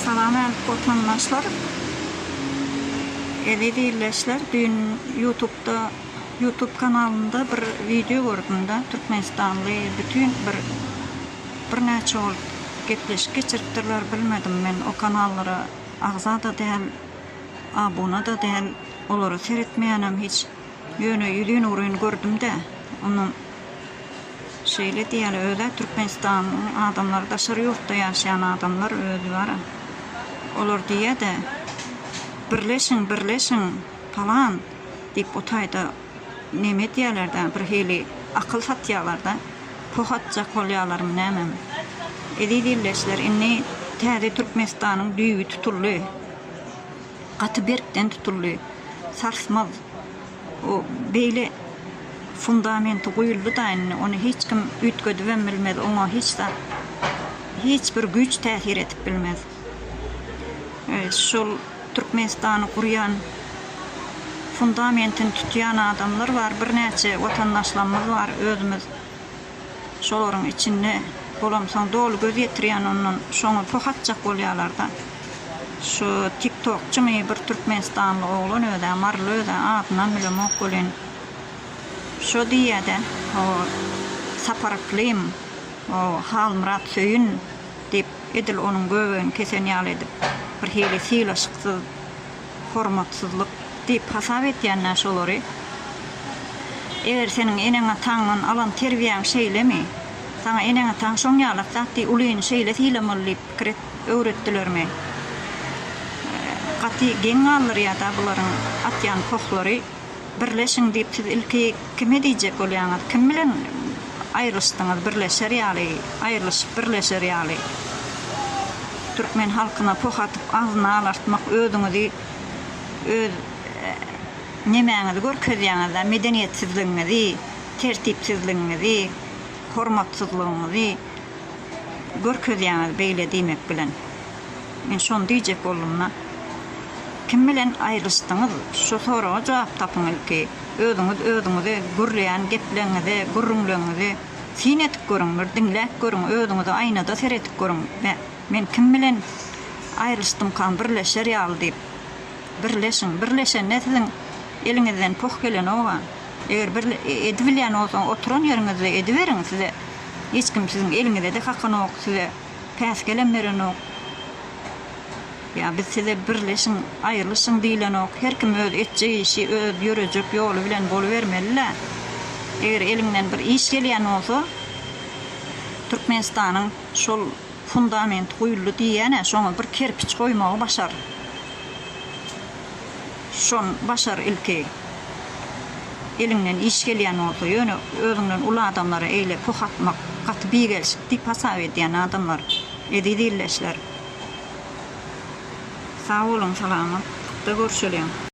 Salam äl Watandaşlar Eziz Ildeşler düýn Ýutubda Ýutub kanalynda bir wideo gördümde Türkmenistanly bütin bir bir näçe bolup gepleşik geçiripdirler bilmedim men o kanallara agzada däl abunada däl olary seretmeýänem hiç. Ýöne ýüzüni-ugryny gördüm-de, onuň şeýle diýýäli, öz-ä Türkmenistanyň adamlary daşary ýurtda ýaşaýan adamlar özi bar-a. Olar diýýä-de, Birleşiň, birleşiň, palan, diýip o taýda neme edýäler-dä, birhili akyl satýalar-da. Poh atjak bolýalarmy nämemi? Eziz ildeşler, indi täze Türkmenistanyň düýbi tutuldy. Gaty berkden tutuldy. Sarsmaz. O beýle fundamenti guýuldy-da indi, ony hiç kim üýtgedibem bilmez, oňa hiç zat, hiç bir güýç täsir edip bilmez. Şol Türkmenistany gurýan, fundamentini tutýan adamlar bar, birnäçe watandaşlarymyz bar, özümiz. Şolaryň içinde bolamsoň doly göz ýetirýän ondan şoňa poh atjak bolýalarda. Şu tiktokçymy bir türkmenistanly oglan özä maryly özä adynam bilemok welin şo diýýädä o Sapar Yklim o Halmyrat Söýün diýip edil onuň göbegini kesen ýaly edip bir hili sylaşyksyz hormatsyzlyk diýip hasap etýän-dä şolary. Eger seniň eneň-ataňdan alan terbiýäň şeýlemi? Saňa eneň-ataň şoň ýalak zat diý, ulyny şeýle sylamaly diýip pikir et, öwretdilermi? Gaty geň galdyrýar-da bularyň atýan pohlary. birleşiň diýip siz ilki kime diýjek bolýaňyz? Kim bilen aýrylyşdyňyz birleşer ýaly, aýrylyşyp birleşer ýaly? Türkmen halkyna poh atyp agzyny alartmak özüňizi öz nemäňizi görkezýäňiz-dä medeniýetsizligiňizi, tertipsizligiňizi, hormatsyzlygyňyzy görkezýäňiz beýle diýmek bilen. Men şony diýjek boldum-da. Kim bilen aýrylyşdyňyz? Şu soraga jogap tapyň ilki. Özüňiz özüňizi, gürleýän gepleriňizi, gürrüňleriňizi syn edip görüň, bir diňläp görüň, özüňizi aýnada seredip görüň. Be, men kim bilen aýrylyşdymkam birleşer ýaly diýip. Birleşiň. Birleşende siziň eliňizden poh gelenok-a. Eger bir edibilýän bolsa, oturan ýeriňizde ediberiň. Size hiç kim siziň eliňize-de haky-nok. Size. päsgelem berenok. Ýa biz size birleşiň, aýrylyşyň diýlenok. Her kim öz etjek işi, öz ýörejek ýoly bilen bolubermeli-le. Eger eliňden bir iş gelýän bolsa, Türkmenistanyň şol fundamenti guýuldy diýýän-ä, şoňa bir kerpiç goýmagy başar. Şony başar ilki. Eliňden iş gelýän bolsa, ýöne özüňden uly adamlara eýle poh atmak gaty bigelşik diýip hasap edýän adamlar. Eziz ildeşler. Sag boluň, salamatlykda görşeliň.